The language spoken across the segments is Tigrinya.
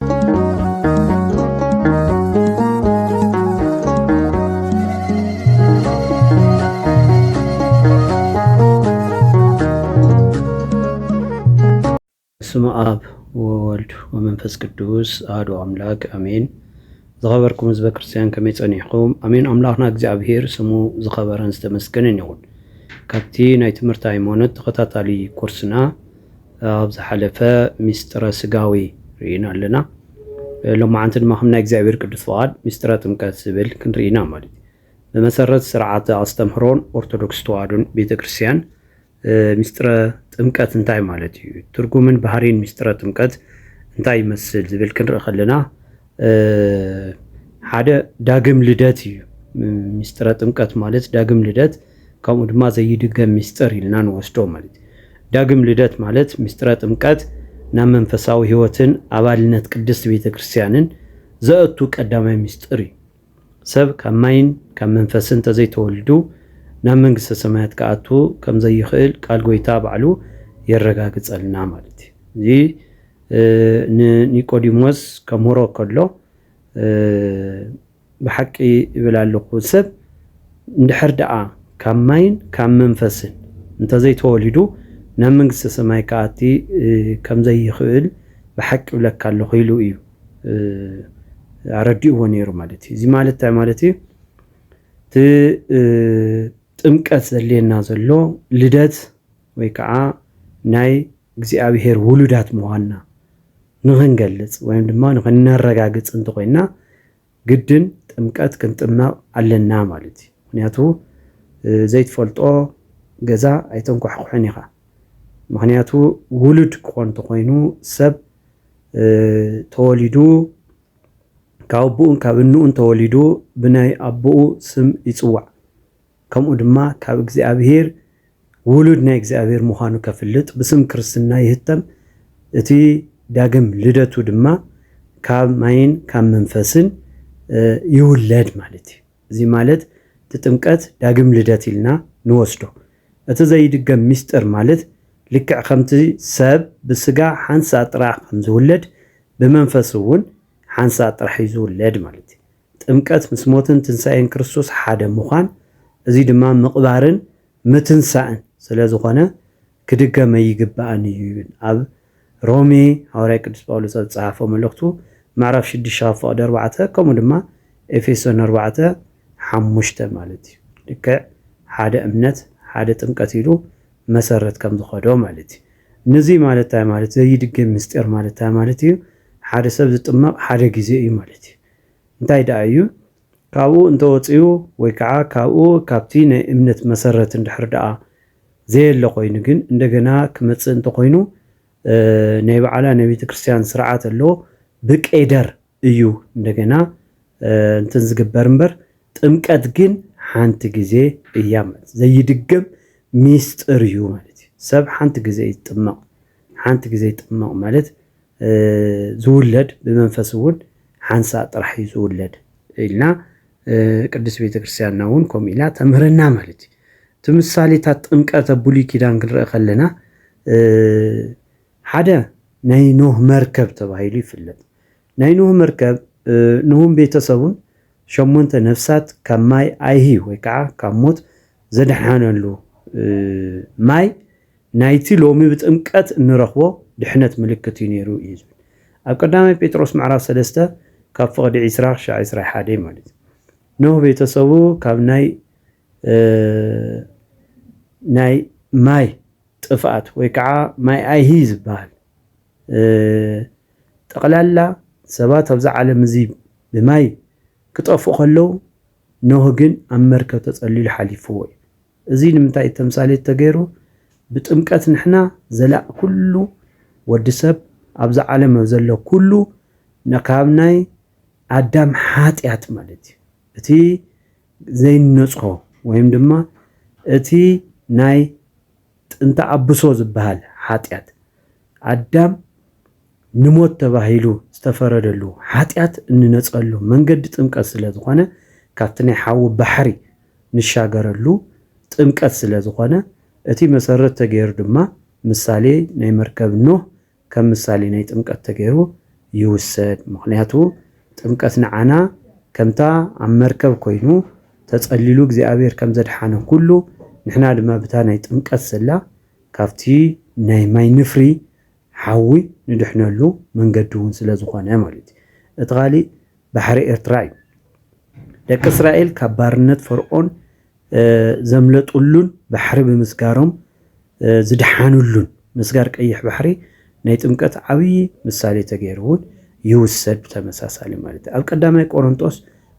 ስመ ኣብ ወወልድ ወመንፈስ ቅዱስ ኣህዶ ኣምላክ ኣሜን። ዝኸበርኩም ህዝበ ክርስትያን ከመይ ጸኒሕኩም? ኣሜን። ኣምላኽና እግዚኣብሄር ስሙ ዝኸበረን ዝተመስገነን ይኹን። ካብቲ ናይ ትምህርቲ ሃይማኖት ተኸታታሊ ኮርስና ኣብ ዝሓለፈ ምስጢረ ስጋዌ ርኢና ኣለና። ሎማዓንቲ ድማ ከም ናይ እግዚኣብሔር ቅዱስ ፍቓድ ምስጢረ ጥምቀት ዝብል ክንርኢ ኢና ማለት እዩ። ብመሰረት ስርዓተ ኣስተምህሮን ኦርቶዶክስ ተዋህዶን ቤተ ክርስቲያን ምስጢረ ጥምቀት እንታይ ማለት እዩ? ትርጉምን ባህሪን ምስጢረ ጥምቀት እንታይ ይመስል ዝብል ክንርኢ ከለና ሓደ ዳግም ልደት እዩ። ሚስጥረ ጥምቀት ማለት ዳግም ልደት ከምኡ ድማ ዘይድገም ሚስጥር ኢልና ንወስዶ ማለት እዩ። ዳግም ልደት ማለት ምስጢረ ጥምቀት ናብ መንፈሳዊ ህይወትን ኣባልነት ቅድስት ቤተ ክርስቲያንን ዘእቱ ቀዳማይ ምስጢር እዩ። ሰብ ካብ ማይን ካብ መንፈስን እንተዘይተወልዱ ናብ መንግስተ ሰማያት ክኣቱ ከም ዘይኽእል ቃል ጎይታ ባዕሉ የረጋግጸልና ማለት እዩ። እዚ ንኒቆዲሞስ ከምህሮ ከሎ ብሓቂ እብል ኣለኹ ሰብ እንድሕር ደኣ ካብ ማይን ካብ መንፈስን እንተዘይተወሊዱ ናብ መንግስተ ሰማይ ክኣቲ ከም ዘይኽእል ብሓቂ እብለካ ኣለኹ ኢሉ እዩ። ኣረዲእዎ ነይሩ ማለት እዩ። እዚ ማለት እንታይ ማለት እዩ? እቲ ጥምቀት ዘድልየና ዘሎ ልደት ወይ ከዓ ናይ እግዚኣብሄር ውሉዳት ምዃንና ንኽንገልፅ ወይም ድማ ንኽነረጋግፅ እንተኾይንና ግድን ጥምቀት ክንጥመቅ ኣለና ማለት እዩ ምክንያቱ ዘይትፈልጦ ገዛ ኣይተንኳሕኩሕን ኢካ ምክንያቱ ውሉድ ክኮን ተኮይኑ ሰብ ተወሊዱ ካብ ኣቡኡን ካብ እንኡን ተወሊዱ ብናይ ኣቡኡ ስም ይጽዋዕ ከምኡ ድማ ካብ እግዚኣብሄር ውሉድ ናይ እግዚኣብሄር ምዃኑ ከፍልጥ ብስም ክርስትና ይህተም፣ እቲ ዳግም ልደቱ ድማ ካብ ማይን ካብ መንፈስን ይውለድ ማለት እዩ። እዚ ማለት እቲ ጥምቀት ዳግም ልደት ኢልና ንወስዶ። እቲ ዘይድገም ምስጢር ማለት ልክዕ ከምቲ ሰብ ብስጋ ሓንሳእ ጥራሕ ከም ዝውለድ ብመንፈስ እውን ሓንሳእ ጥራሕ እዩ ዝውለድ ማለት እዩ። ጥምቀት ምስ ሞትን ትንሳኤን ክርስቶስ ሓደ ምዃን እዚ ድማ ምቕባርን ምትንሳእን ስለ ዝኾነ ክድገም ኣይግባእን እዩ ይብል ኣብ ሮሜ ሃዋርያ ቅዱስ ጳውሎስ ኣብ ዝጸሓፎ መልእኽቱ ምዕራፍ ሽዱሽተ ካብ ፍቕዲ ኣርባዕተ ከምኡ ድማ ኤፌሶን ኣርባዕተ ሓሙሽተ ማለት እዩ ልክዕ ሓደ እምነት ሓደ ጥምቀት ኢሉ መሰረት ከም ዝኸዶ ማለት እዩ ንዙይ ማለት እንታይ ማለት ዘይድገም ምስጢር ማለት እንታይ ማለት እዩ ሓደ ሰብ ዝጥመቕ ሓደ ግዜ እዩ ማለት እዩ እንታይ ደኣ እዩ ካብኡ እንተወጺኡ ወይ ከኣ ካብኡ ካብቲ ናይ እምነት መሰረት እንድሕር ደኣ ዘየለ ኮይኑ ግን እንደገና ክመጽእ እንተኾይኑ ናይ በዓላ ናይ ቤተ ክርስቲያን ስርዓት ኣሎ ብቄደር እዩ እንደገና እንትን ዝግበር እምበር ጥምቀት ግን ሓንቲ ግዜ እያ ማለት ዘይድገም ሚስጥር እዩ ማለት እዩ። ሰብ ሓንቲ ግዜ እዩ ዝጥመቕ። ሓንቲ ግዜ ይጥመቕ ማለት ዝውለድ ብመንፈስ እውን ሓንሳእ ጥራሕ እዩ ዝውለድ ኢልና ቅድስት ቤተ ክርስቲያንና እውን ከምኡ ኢላ ተምህረና ማለት እዩ። እቲ ምሳሌታት ጥምቀት ኣብ ብሉይ ኪዳን ክንርኢ ከለና ሓደ ናይ ኖህ መርከብ ተባሂሉ ይፍለጥ። ናይ ኖህ መርከብ ንሁን ቤተሰቡን ሸሞንተ ነፍሳት ካብ ማይ ኣይሂ ወይ ከዓ ካብ ሞት ዘድሓነሉ ማይ ናይቲ ሎሚ ብጥምቀት እንረኽቦ ድሕነት ምልክት እዩ ነይሩ እዩ ዝብል ኣብ ቀዳማይ ጴጥሮስ ምዕራፍ ሰለስተ ካብ ፍቕዲ ዒስራ ክሻዕ ዒስራይ ሓደ እዩ ማለት እዩ ኖህ ቤተሰቡ ካብ ናይ ናይ ማይ ጥፍኣት ወይ ከዓ ማይ ኣይሂ ዝበሃል ጠቕላላ ሰባት ኣብዚ ዓለም እዚ ብማይ ክጠፍኡ ከለው ኖህ ግን ኣብ መርከብ ተጸሊሉ ሓሊፍዎ እዩ። እዚ ንምንታይ እዩ ተምሳሌት ተገይሩ? ብጥምቀት ንሕና ዘላቂ ኩሉ ወዲ ሰብ ኣብዛ ዓለም ኣብ ዘሎ ኩሉ ካብ ናይ ኣዳም ሓጢኣት ማለት እዩ እቲ ዘይነጽሆ ወይም ድማ እቲ ናይ ጥንተ ኣብሶ ዝበሃል ሓጢኣት፣ ኣዳም ንሞት ተባሂሉ ዝተፈረደሉ ሓጢኣት እንነጸሉ መንገዲ ጥምቀት ስለ ዝኾነ፣ ካብቲ ናይ ሓዊ ባሕሪ ንሻገረሉ ጥምቀት ስለ ዝኾነ፣ እቲ መሰረት ተገይሩ ድማ ምሳሌ ናይ መርከብ ኖህ ከም ምሳሌ ናይ ጥምቀት ተገይሩ ይውሰድ ምኽንያቱ ጥምቀት ንዓና ከምታ ኣብ መርከብ ኮይኑ ተጸሊሉ እግዚኣብሔር ከም ዘድሓነ ኩሉ ንሕና ድማ ብታ ናይ ጥምቀት ዘላ ካብቲ ናይ ማይ ንፍሪ ሓዊ ንድሕነሉ መንገዲ እውን ስለ ዝኾነ ማለት እዩ እቲ ካሊእ ባሕሪ ኤርትራ እዩ ደቂ እስራኤል ካብ ባርነት ፈርዖን ዘምለጡሉን ባሕሪ ብምስጋሮም ዝደሓኑሉን ምስጋር ቀይሕ ባሕሪ ናይ ጥምቀት ዓብዪ ምሳሌ ተገይሩ እውን ይውሰድ ብተመሳሳሊ ማለት ኣብ ቀዳማይ ቆሮንጦስ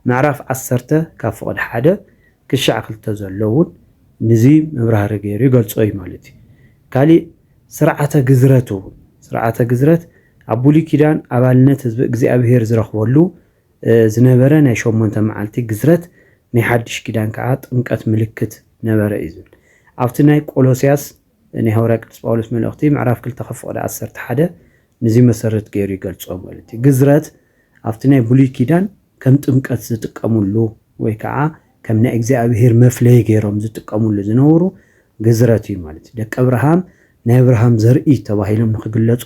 ምዕራፍ ዓሰርተ ካብ ፍቕድ ሓደ ክሻዕ ክልተ ዘሎ እውን ንዙ መብራህሪ ገይሩ ይገልጾ እዩ ማለት እዩ ካሊእ ስርዓተ ግዝረት እውን ስርዓተ ግዝረት ኣብ ብሉይ ኪዳን ኣባልነት ህዝቢ እግዚኣብሔር ዝረኽበሉ ዝነበረ ናይ ሸሞንተ መዓልቲ ግዝረት ናይ ሓድሽ ኪዳን ከኣ ጥምቀት ምልክት ነበረ እዩ ዝብል ኣብቲ ናይ ቆሎሲያስ ናይ ሃዋርያ ቅዱስ ጳውሎስ መልእኽቲ ምዕራፍ ክልተ ካብ ፍቕዲ ዓሰርተ ሓደ ንዚ መሰረት ገይሩ ይገልጾ ማለት እዩ ግዝረት ኣብቲ ናይ ብሉይ ኪዳን ከም ጥምቀት ዝጥቀምሉ ወይ ከኣ ከም ናይ እግዚኣብሄር መፍለዪ ገይሮም ዝጥቀምሉ ዝነበሩ ግዝረት እዩ ማለት እዩ ደቀ ኣብርሃም ናይ ኣብርሃም ዘርኢ ተባሂሎም ንክግለጹ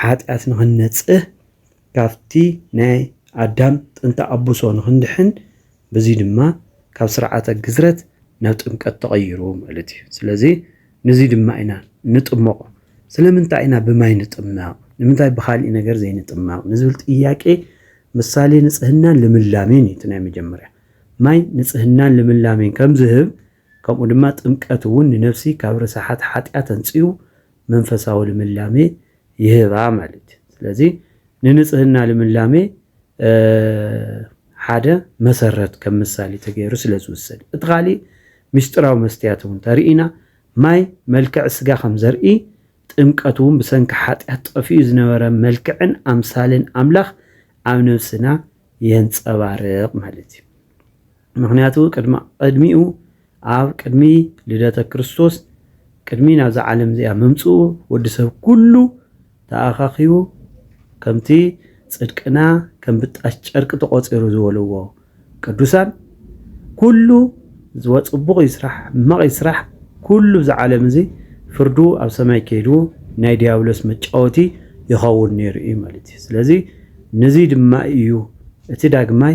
ሓጢኣት ንኽንነጽህ ካብቲ ናይ ኣዳም ጥንተ ኣቡሶ ንኽንድሕን በዚ ድማ ካብ ስርዓተ ግዝረት ናብ ጥምቀት ተቐይሩ ማለት እዩ። ስለዚ ንዚ ድማ ኢና እንጥመቖ። ስለምንታይ ኢና ብማይ ንጥመቕ ንምንታይ ብኻሊእ ነገር ዘይንጥመቕ ንዝብል ጥያቄ ምሳሌ ንጽህናን ልምላሜን እዩ እቲ ናይ መጀመርያ። ማይ ንጽህናን ልምላሜን ከም ዝህብ ከምኡ ድማ ጥምቀት እውን ንነፍሲ ካብ ርሳሓት ሓጢኣት ኣንጽሁ መንፈሳዊ ልምላሜ ይህባ ማለት እዩ። ስለዚ ንንጽህና ልምላሜ ሓደ መሰረት ከም ምሳሌ ተገይሩ ስለ ዝውሰድ እቲ ካሊእ ምስጢራዊ መስትያት እውን ተርኢና ማይ መልክዕ ስጋ ከም ዘርኢ ጥምቀት እውን ብሰንኪ ሓጢኣት ጠፊኡ ዝነበረ መልክዕን ኣምሳልን ኣምላኽ ኣብ ነብስና የንጸባርቕ ማለት እዩ። ምኽንያቱ ቅድሚ ቅድሚኡ ኣብ ቅድሚ ልደተ ክርስቶስ ቅድሚ ናብዛ ዓለም እዚኣ ምምጽኡ ወዲ ሰብ ኩሉ ተኣኻኺቡ ከምቲ ጽድቅና ከም ብጣሽ ጨርቂ ተቖጺሩ ዝበልዎ ቅዱሳን ኩሉ ጽቡቕ ይስራሕ ሕማቕ ይስራሕ ኩሉ እዚ ዓለም እዚ ፍርዱ ኣብ ሰማይ ከይዱ ናይ ዲያብሎስ መጫወቲ ይኸውን ነይሩ እዩ ማለት እዩ። ስለዚ ንዚ ድማ እዩ እቲ ዳግማይ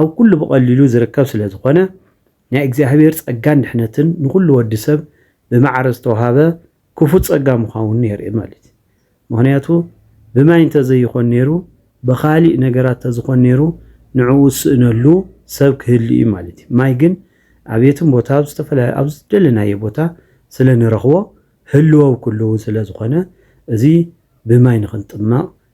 ኣብ ኩሉ ብቐሊሉ ዝርከብ ስለ ዝኾነ ናይ እግዚኣብሔር ጸጋን ድሕነትን ንኹሉ ወዲ ሰብ ብማዕረ ዝተውሃበ ክፉት ጸጋ ምዃውኑ የርኢ ማለት እዩ። ምኽንያቱ ብማይ እንተ ዘይኾን ነይሩ ብኻሊእ ነገራት ተዝኾን ነይሩ ንዕኡ ዝስእነሉ ሰብ ክህሉ እዩ ማለት እዩ። ማይ ግን ኣብ የትም ቦታ ኣብ ዝተፈላለዩ ኣብ ዝደለናዮ ቦታ ስለ ንረኽቦ ህልወው ክልውን ስለ ዝኾነ እዚ ብማይ ንኽንጥመቕ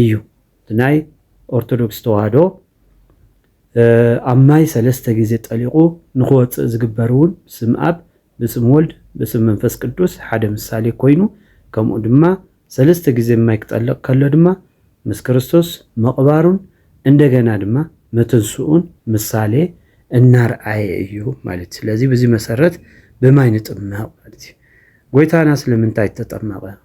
እዩ እቲ ናይ ኦርቶዶክስ ተዋህዶ ኣብ ማይ ሰለስተ ግዜ ጠሊቁ ንክወፅእ ዝግበር እውን ብስም ኣብ ብስም ወልድ ብስም መንፈስ ቅዱስ ሓደ ምሳሌ ኮይኑ ከምኡ ድማ ሰለስተ ግዜ ማይ ክጠልቅ ከሎ ድማ ምስ ክርስቶስ ምቅባሩን እንደገና ድማ ምትንስኡን ምሳሌ እናርኣየ እዩ ማለት እዩ ስለዚ ብዚ መሰረት ብማይ ንጥመቅ ማለት እዩ ጎይታና ስለምንታይ ተጠመቀ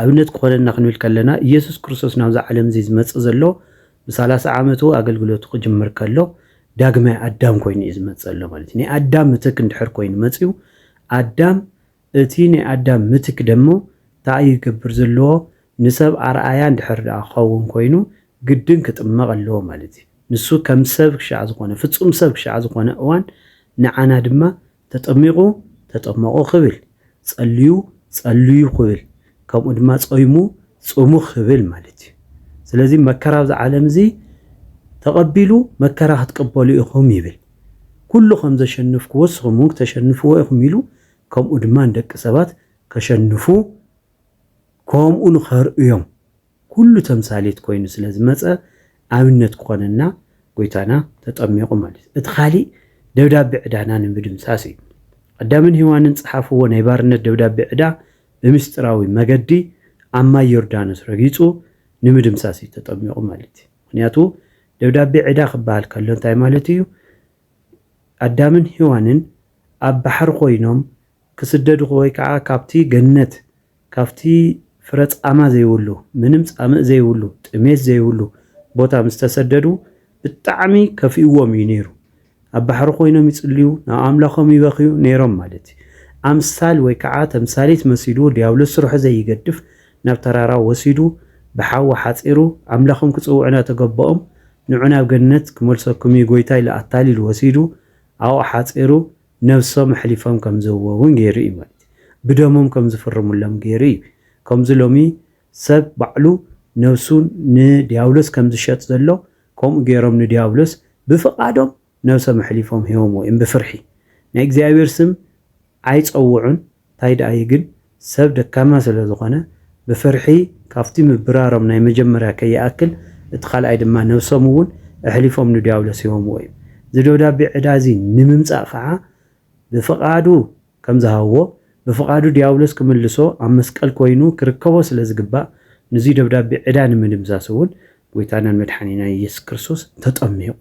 ኣብነት ክኾነና ክንብል ከለና ኢየሱስ ክርስቶስ ናብዛ ዓለም እዚ ዝመጽእ ዘሎ ብሳላሳ ዓመቱ ኣገልግሎቱ ክጅምር ከሎ ዳግማይ ኣዳም ኮይኑ እዩ ዝመጽእ ኣሎ ማለት ናይ ኣዳም ምትክ እንድሕር ኮይኑ መጽዩ ኣዳም እቲ ናይ ኣዳም ምትክ ደሞ እንታይ እዩ ክገብር ዘለዎ ንሰብ ኣርኣያ እንድሕር ደኣ ክኸውን ኮይኑ ግድን ክጥመቕ ኣለዎ ማለት እዩ ንሱ ከም ሰብ ክሻዕ ዝኾነ ፍጹም ሰብ ክሻዕ ዝኾነ እዋን ንዓና ድማ ተጠሚቑ፣ ተጠመቑ ክብል፣ ጸልዩ፣ ጸልዩ ክብል፣ ከምኡ ድማ ጾይሙ፣ ጽሙ ክብል ማለት እዩ። ስለዚ መከራ ኣብዚ ዓለም እዚ ተቐቢሉ መከራ ክትቅበሉ ኢኹም ይብል። ኩሉ ከም ዘሸንፍክዎ ንስኹም እውን ክተሸንፍዎ ኢኹም ኢሉ ከምኡ ድማ ንደቂ ሰባት ከሸንፉ ከምኡ ንኸርእዮም ኩሉ ተምሳሌት ኮይኑ ስለ ዝመጸ ኣብነት ክኾነና ጎይታና ተጠሚቁ ማለት እዩ። እቲ ካሊእ ደብዳቤ ዕዳና ንምድምሳስ እዩ። ኣዳምን ሄዋንን ጸሓፍዎ ናይ ባርነት ደብዳቤ ዕዳ ብምስጢራዊ መገዲ ኣብ ማይ ዮርዳኖስ ረጊጹ ንምድምሳስ እዩ ተጠሚቁ ማለት እዩ። ምክንያቱ ደብዳቤ ዕዳ ክበሃል ከሎ እንታይ ማለት እዩ ኣዳምን ሄዋንን ኣብ ባሕሪ ኮይኖም ክስደዱ ወይ ከዓ ካብቲ ገነት ካብቲ ፍረ ጻማ ዘይብሉ ምንም ጻምእ ዘይብሉ ጥሜት ዘይብሉ ቦታ ምስ ተሰደዱ ብጣዕሚ ከፊእዎም እዩ ነይሩ ኣብ ባሕሪ ኮይኖም ይጽልዩ ናብ ኣምላኾም ይበኽዩ ነይሮም ማለት እዩ ኣምሳል ወይ ከዓ ተምሳሌት መሲሉ ድያብሎስ ስርሑ ዘይገድፍ ናብ ተራራ ወሲዱ ብሓዊ ሓጺሩ ኣምላኾም ክጽውዑ ናተገበኦም ንዑ ናብ ገነት ክመልሰኩም እዩ ጎይታ ኢሉ ኣታሊሉ ወሲዱ ኣብኡ ሓጺሩ ነብሶም ኣሕሊፎም ከም ዝህብዎ እውን ገይሩ እዩ ማለት እዩ። ብደሞም ከም ዝፍርሙሎም ገይሩ እዩ። ከምዚ ሎሚ ሰብ ባዕሉ ነብሱ ንድያብሎስ ከም ዝሸጥ ዘሎ ከምኡ ገይሮም ንድያብሎስ ብፍቓዶም ነብሶም ኣሕሊፎም ሂቦምዎ እዮም ብፍርሒ። ናይ እግዚኣብሔር ስም ኣይጸውዑን። ታይ ደኣ እዩ ግን ሰብ ደካማ ስለ ዝኾነ ብፍርሒ ካብቲ ምብራሮም ናይ መጀመርያ ከይኣክል እቲ ካልኣይ ድማ ነብሶም እውን እሕሊፎም ንድያብሎስ ሂቦምዎ እዩ እዚ ደብዳቤ ዕዳ እዚ ንምምጻእ ኸዓ ብፍቃዱ ከም ዝሃብዎ ብፍቃዱ ድያብሎስ ክምልሶ ኣብ መስቀል ኮይኑ ክርከቦ ስለ ዝግባእ ንዙይ ደብዳቤ ዕዳ ንምድምሳስ እውን ጎይታናን መድሓኒናን እየሱስ ክርስቶስ ተጠሚቁ።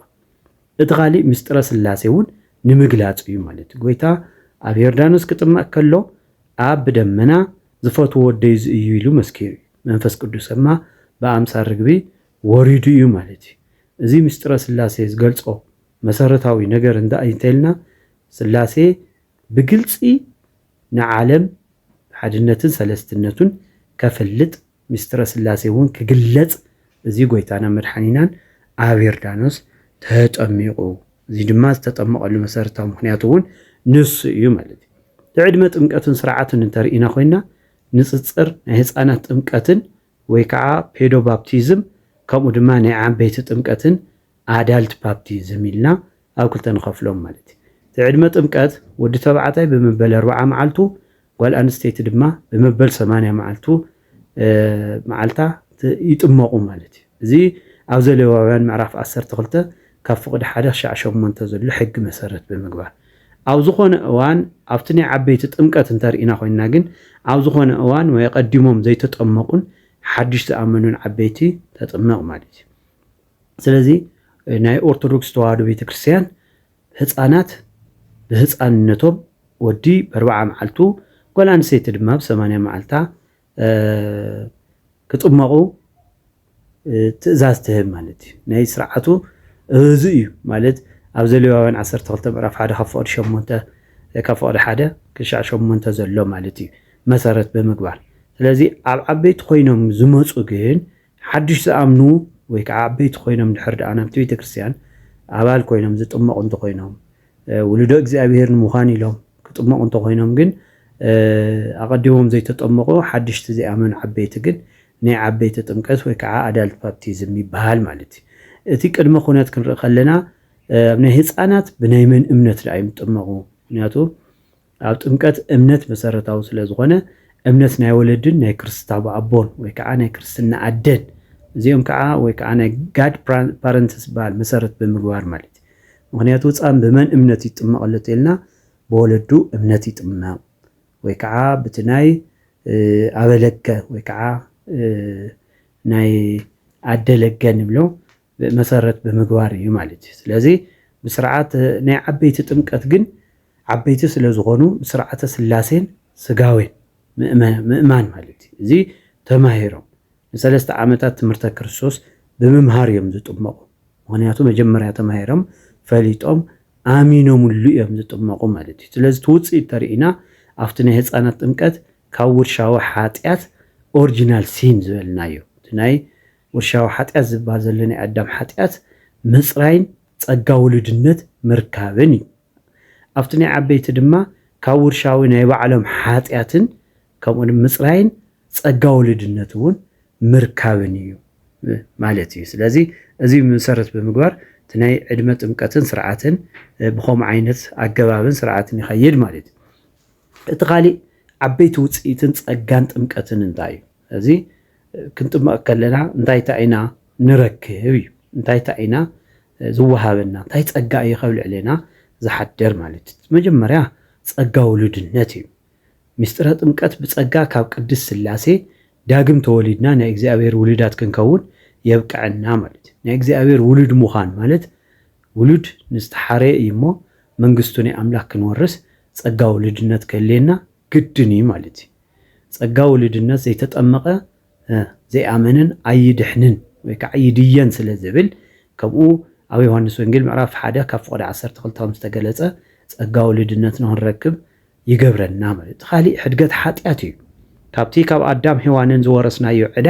እቲ ኻሊእ ምስጢረ ሥላሴ እውን ንምግላጽ እዩ ማለት እዩ። ጐይታ ኣብ ዮርዳኖስ ክጥመቅ ከሎ ኣብ ብደመና ዝፈትዎ ወደይ እዚ እዩ ኢሉ መስኪሩ እዩ። መንፈስ ቅዱስ እማ ብኣምሳል ርግቢ ወሪዱ እዩ ማለት እዩ። እዚ ምስጢረ ሥላሴ ዝገልጾ መሠረታዊ ነገር እንታይ እዩ እንተኢልና ሥላሴ ብግልጺ ንዓለም ብሓድነትን ሠለስትነቱን ከፍልጥ ምስጢረ ሥላሴ እውን ክግለጽ እዚ ጐይታናን መድሓኒናን ኣብ ዮርዳኖስ ተጠሚቑ። እዚ ድማ ዝተጠመቐሉ መሠረታዊ ምኽንያት እውን ንሱ እዩ ማለት እዩ። ብዕድመ ጥምቀትን ሥርዓቱን እንተ ርኢና ኮይንና ንጽጽር ናይ ሕፃናት ጥምቀትን ወይ ከዓ ፔዶባፕቲዝም ከምኡ ድማ ናይ ዓበይቲ ጥምቀትን፣ Adult Baptism፣ ኢልና ኣብ ክልተ ንኸፍሎም ማለት እዩ። እቲ ዕድመ ጥምቀት ወዲ ተባዕታይ ብመበል ኣርብዓ መዓልቱ ጓል ኣንስተይቲ ድማ ብመበል ሰማንያ መዓልቱ መዓልታ ይጥመቑ ማለት እዩ። እዚ ኣብ ዘሌዋውያን ምዕራፍ ዓሰርተ ክልተ ካብ ፍቕዲ ሓደ ክሻዕ ሸሞንተ ዘሎ ሕጊ መሰረት ብምግባር ኣብ ዝኾነ እዋን ኣብቲ ናይ ዓበይቲ ጥምቀት እንተርኢና ኮይንና ግን ኣብ ዝኾነ እዋን ወይ ቀዲሞም ዘይተጠመቑን ሓድሽ ዝኣመኑን ዓበይቲ ተጥመቕ ማለት እዩ። ስለዚ ናይ ኦርቶዶክስ ተዋህዶ ቤተክርስትያን ህፃናት ብህፃንነቶም ወዲ በርባዓ መዓልቱ ጓል ኣንስተይቲ ድማ ብ ሰማንያ መዓልታ ክጥመቑ ትእዛዝ ትህብ ማለት እዩ። ናይ ስርዓቱ እዚ እዩ ማለት ኣብ ዘሌዋውያን ዓሰርተ ክልተ ምዕራፍ ሓደ ካብ ፍቕዲ ሸሞንተ ካብ ፍቕዲ ሓደ ክሻዕ ሸሞንተ ዘሎ ማለት እዩ መሰረት ብምግባር ስለዚ ኣብ ዓበይቲ ኮይኖም ዝመፁ ግን ሓዱሽ ዝኣምኑ ወይ ከዓ ዓበይቲ ኮይኖም ድሕር ደኣ ናብቲ ቤተ ክርስቲያን ኣባል ኮይኖም ዝጥመቑ እንተኾይኖም ውሉዶ እግዚኣብሔር ንምዃን ኢሎም ክጥመቑ እንተኾይኖም ግን ኣቐዲሞም ዘይተጠመቑ ሓድሽቲ ዘይኣመኑ ዓበይቲ ግን ናይ ዓበይቲ ጥምቀት ወይ ከዓ ኣዳልት ባፕቲዝም ይበሃል ማለት እዩ። እቲ ቅድመ ኩነት ክንርኢ ከለና ኣብ ናይ ህፃናት ብናይ መን እምነት ደኣ እዮም ዝጥመቑ? ምክንያቱ ኣብ ጥምቀት እምነት መሰረታዊ ስለ ዝኾነ እምነት ናይ ወለድን ናይ ክርስታዊ ኣቦን ወይ ከዓ ናይ ክርስትና ኣደን እዚኦም ከዓ ወይ ከዓ ናይ ጋድ ፓረንትስ ዝበሃል መሰረት ብምግባር ማለት እዩ። ምክንያቱ ህፃን ብመን እምነት ይጥመቕ ኣሎ ተልና ብወለዱ እምነት ይጥመቕ ወይ ከዓ ብቲ ናይ ኣበለገ ወይ ከዓ ናይ ኣደለገ ንብሎ መሰረት ብምግባር እዩ ማለት እዩ። ስለዚ ብስርዓት ናይ ዓበይቲ ጥምቀት ግን ዓበይቲ ስለ ዝኾኑ ብስርዓተ ስላሴን ስጋዌን ምእማን ማለት እዩ። እዚ ተማሂሮም ንሰለስተ ዓመታት ትምህርተ ክርስቶስ ብምምሃር እዮም ዝጥመቑ። ምክንያቱ መጀመርያ ተማሂሮም ፈሊጦም ኣሚኖምሉ እዮም ዝጥመቑ ማለት እዩ። ስለዚ እቲ ውፅኢት ተርእና ኣብቲ ናይ ህፃናት ጥምቀት ካብ ውርሻዊ ሓጢኣት ኦሪጂናል ሲን ዝበልናዮ እቲ ናይ ውርሻዊ ሓጢኣት ዝብሃል ዘሎ ናይ ኣዳም ሓጢኣት ምጽራይን ጸጋ ውሉድነት ምርካብን እዩ። ኣብቲ ናይ ዓበይቲ ድማ ካብ ውርሻዊ ናይ ባዕሎም ሓጢኣትን ከምኡ ድማ ምጽራይን ጸጋ ውሉድነት እውን ምርካብን እዩ ማለት እዩ። ስለዚ እዚ መሰረት ብምግባር እቲ ናይ ዕድመ ጥምቀትን ስርዓትን ብከምኡ ዓይነት ኣገባብን ስርዓትን ይኸይድ ማለት እዩ። እቲ ካሊእ ዓበይቲ ውጽኢትን ጸጋን ጥምቀትን እንታይ እዩ? እዚ ክንጥመቕ ከለና እንታይ እንታይ ኢና ንረክብ እዩ እንታይ እንታይ ኢና ዝወሃበና እንታይ ጸጋ እዩ ከብ ልዕሌና ዝሓደር ማለት እዩ መጀመርያ ጸጋ ውሉድነት እዩ ምስጢረ ጥምቀት ብጸጋ ካብ ቅድስት ስላሴ ዳግም ተወሊድና ናይ እግዚኣብሔር ውሉዳት ክንከውን የብቅዐና ማለት እዩ ናይ እግዚኣብሔር ውሉድ ምዃን ማለት ውሉድ ንዝተሓረየ እዩ እሞ መንግስቱ ናይ ኣምላክ ክንወርስ ጸጋ ውሉድነት ከልየና ግድን እዩ ማለት እዩ ጸጋ ውሉድነት ዘይተጠመቐ ዘይኣመነን ኣይድሕንን ወይ ከዓ ይድየን ስለ ዝብል ከምኡ ኣብ ዮሐንስ ወንጌል ምዕራፍ ሓደ ካብ ፍቕዲ ዓሰርተ ክልተ ከም ዝተገለጸ ጸጋ ውሉድነት ንክንረክብ ይገብረና ማለት እቲ ካሊእ ሕድገት ሓጢኣት እዩ ካብቲ ካብ ኣዳም ሔዋንን ዝወረስናዮ ዕዳ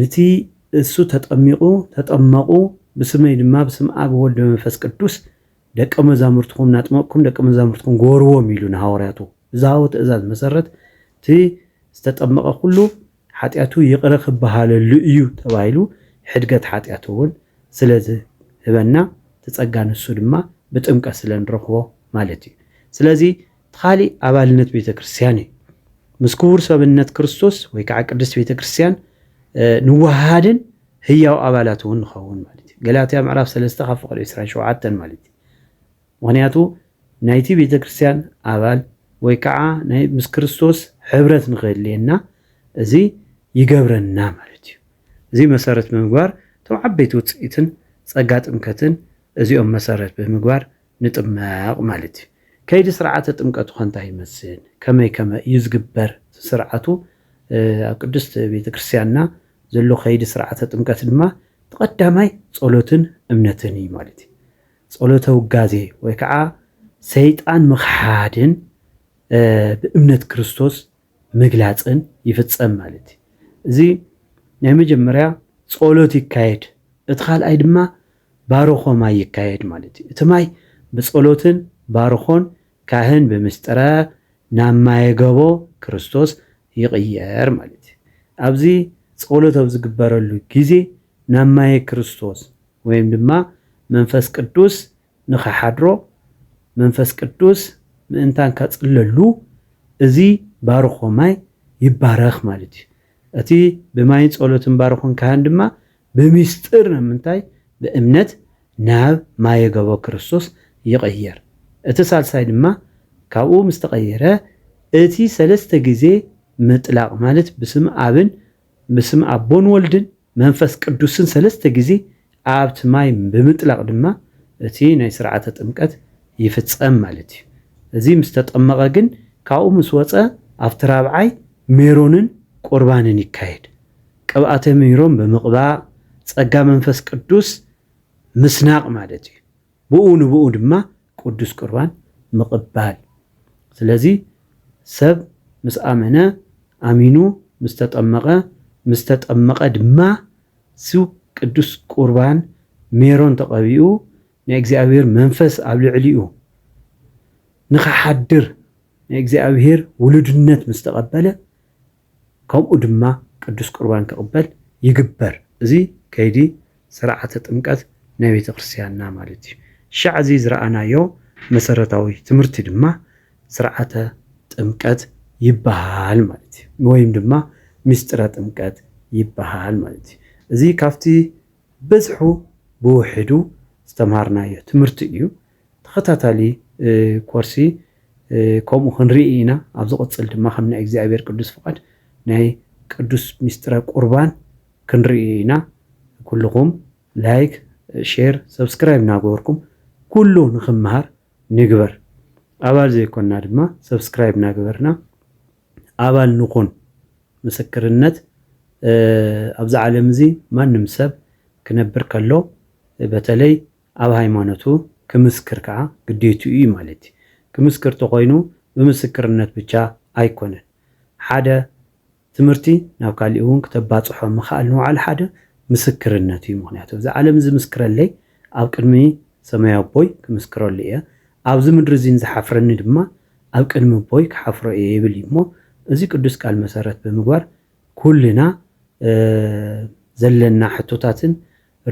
ንቲ እሱ ተጠሚቁ ተጠመቁ ብስመይ ድማ ብስም ኣብ ወልድ በመንፈስ ቅዱስ ደቀ መዛሙርትኩም እናጥመቅኩም ደቀ መዛሙርትኩም ጎርዎም ኢሉ ንሃዋርያቱ ብዝሃቦ ትእዛዝ መሰረት እቲ ዝተጠመቀ ኩሉ ሓጢኣቱ ይቅረ ክበሃለሉ እዩ ተባሂሉ ሕድገት ሓጢኣት እውን ስለዝህበና እቲ ጸጋ ንሱ ድማ ብጥምቀት ስለንረክቦ ማለት እዩ ስለዚ ኻሊእ ኣባልነት ቤተ ክርስቲያን እዩ። ምስ ክቡር ሰብነት ክርስቶስ ወይ ከዓ ቅድስት ቤተ ክርስቲያን ንወሃሃድን ህያው ኣባላት እውን ንኸውን ማለት እዩ። ገላትያ ምዕራፍ ሰለስተ ካብ ፍቕሪ ዕስራን ሸውዓተን ማለት እዩ። ምክንያቱ ናይቲ ቤተ ክርስቲያን ኣባል ወይ ከዓ ናይ ምስ ክርስቶስ ሕብረት ንክህልየና እዚ ይገብረና ማለት እዩ። እዚ መሰረት ብምግባር እቶም ዓበይቲ ውፅኢትን ፀጋ ጥምከትን እዚኦም መሰረት ብምግባር ንጥመቕ ማለት እዩ። ከይዲ ስርዓተ ጥምቀቱኸ እንታይ ይመስል? ከመይ ከመ እዩ ዝግበር ስርዓቱ? ኣብ ቅድስት ቤተ ክርስቲያንና ዘሎ ከይዲ ስርዓተ ጥምቀት ድማ እቲ ቀዳማይ ጸሎትን እምነትን እዩ ማለት እዩ። ጸሎተ ውጋዜ ወይ ከዓ ሰይጣን ምኽሓድን ብእምነት ክርስቶስ ምግላፅን ይፍፀም ማለት እዩ። እዚ ናይ መጀመርያ ጸሎት ይካየድ፣ እቲ ካልኣይ ድማ ባርኾ ማይ ይካየድ ማለት እዩ። እቲ ማይ ብጸሎትን ባርኾን ካህን ብምስጢረ ናብ ማየ ገቦ ክርስቶስ ይቕየር ማለት እዩ። ኣብዚ ጸሎት ኣብ ዝግበረሉ ግዜ ናብ ማየ ክርስቶስ ወይም ድማ መንፈስ ቅዱስ ንኸሓድሮ መንፈስ ቅዱስ ምእንታን ከጽለሉ እዚ ባርኾ ማይ ይባረኽ ማለት እዩ። እቲ ብማይን ጸሎትን ባርኾን ካህን ድማ ብምስጢር ን ምንታይ ብእምነት ናብ ማየ ገቦ ክርስቶስ ይቕየር እቲ ሳልሳይ ድማ ካብኡ ምስ ተቐየረ እቲ ሰለስተ ግዜ ምጥላቕ ማለት ብስም ኣብን ብስም ኣቦን ወልድን መንፈስ ቅዱስን ሰለስተ ግዜ ኣብቲ ማይ ብምጥላቕ ድማ እቲ ናይ ስርዓተ ጥምቀት ይፍጸም ማለት እዩ እዚ ምስ ተጠመቐ ግን ካብኡ ምስ ወጸ ኣብቲ ራብዓይ ሜሮንን ቁርባንን ይካየድ ቅብኣተ ምይሮም ብምቕባእ ጸጋ መንፈስ ቅዱስ ምስናቕ ማለት እዩ። ብኡ ንብኡ ድማ ቅዱስ ቁርባን ምቕባል። ስለዚ ሰብ ምስ ኣመነ፣ ኣሚኑ ምስ ተጠመቐ፣ ምስ ተጠመቐ ድማ ስብ ቅዱስ ቁርባን ሜሮን ተቐቢኡ ናይ እግዚኣብሔር መንፈስ ኣብ ልዕሊኡ ንክሓድር ናይ እግዚኣብሔር ውሉድነት ምስ ተቐበለ፣ ከምኡ ድማ ቅዱስ ቍርባን ክቕበል ይግበር። እዚ ከይዲ ሥርዓተ ጥምቀት ናይ ቤተ ክርስቲያንና ማለት እዩ። ሽዕ እዚ ዝረኣናዮ መሠረታዊ ትምህርቲ ድማ ሥርዓተ ጥምቀት ይበሃል ማለት እዩ። ወይም ድማ ምሥጢረ ጥምቀት ይበሃል ማለት እዩ። እዚ ካብቲ ብዝሑ ብውሒዱ ዝተምሃርናዮ ትምህርቲ እዩ። ተኸታታሊ ኮርሲ ከምኡ ክንርኢ ኢና። ኣብ ዝቕጽል ድማ ከም ናይ እግዚኣብሔር ቅዱስ ፍቓድ ናይ ቅዱስ ምስጢረ ቁርባን ክንርኢ ኢና። ኩልኹም ላይክ፣ ሼር፣ ሰብስክራይብ እናገበርኩም ኩሉ ንክመሃር ንግበር። ኣባል ዘይኮንና ድማ ሰብስክራይብ እናገበርና ኣባል ንኹን። ምስክርነት ኣብዚ ዓለም እዚ ማንም ሰብ ክነብር ከሎ በተለይ ኣብ ሃይማኖቱ ክምስክር ከኣ ግዴትኡ እዩ ማለት እዩ። ክምስክር ተኾይኑ ብምስክርነት ብቻ ኣይኮነን ሓደ ትምህርቲ ናብ ካሊእ እውን ክተባፅሖ ምኽኣል ንባዕሉ ሓደ ምስክርነት እዩ። ምኽንያቱ እዛ ዓለም ዝምስክረለይ ኣብ ቅድሚ ሰማያዊ ኣቦይ ክምስክረሉ እየ፣ ኣብዚ ምድሪ እዚን ዝሓፍረኒ ድማ ኣብ ቅድሚ ኣቦይ ክሓፍሮ እየ ይብል እዩ እሞ እዚ ቅዱስ ቃል መሰረት ብምግባር ኩልና ዘለና ሕቶታትን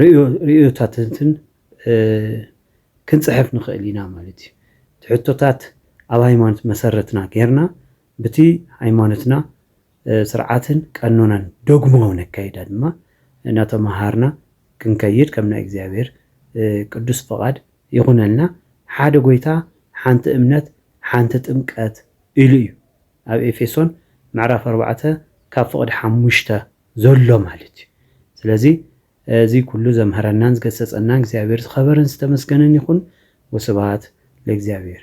ርእዮታትትን ክንጽሕፍ ንኽእል ኢና ማለት እዩ። እቲ ሕቶታት ኣብ ሃይማኖት መሰረትና ጌርና ብቲ ሃይማኖትና ስርዓትን ቀኖናን ዶግማውን ኣካይዳ ድማ እናተመሃርና ክንከይድ ከም ናይ እግዚኣብሔር ቅዱስ ፍቓድ ይኹነልና። ሓደ ጎይታ ሓንቲ እምነት ሓንቲ ጥምቀት ኢሉ እዩ ኣብ ኤፌሶን ምዕራፍ ኣርባዕተ ካብ ፍቕዲ ሓሙሽተ ዘሎ ማለት እዩ ስለዚ እዚ ኩሉ ዘምሀረናን ዝገሰፀናን እግዚኣብሔር ዝኸበረን ዝተመስገነን ይኹን ወስብሃት ለእግዚኣብሔር።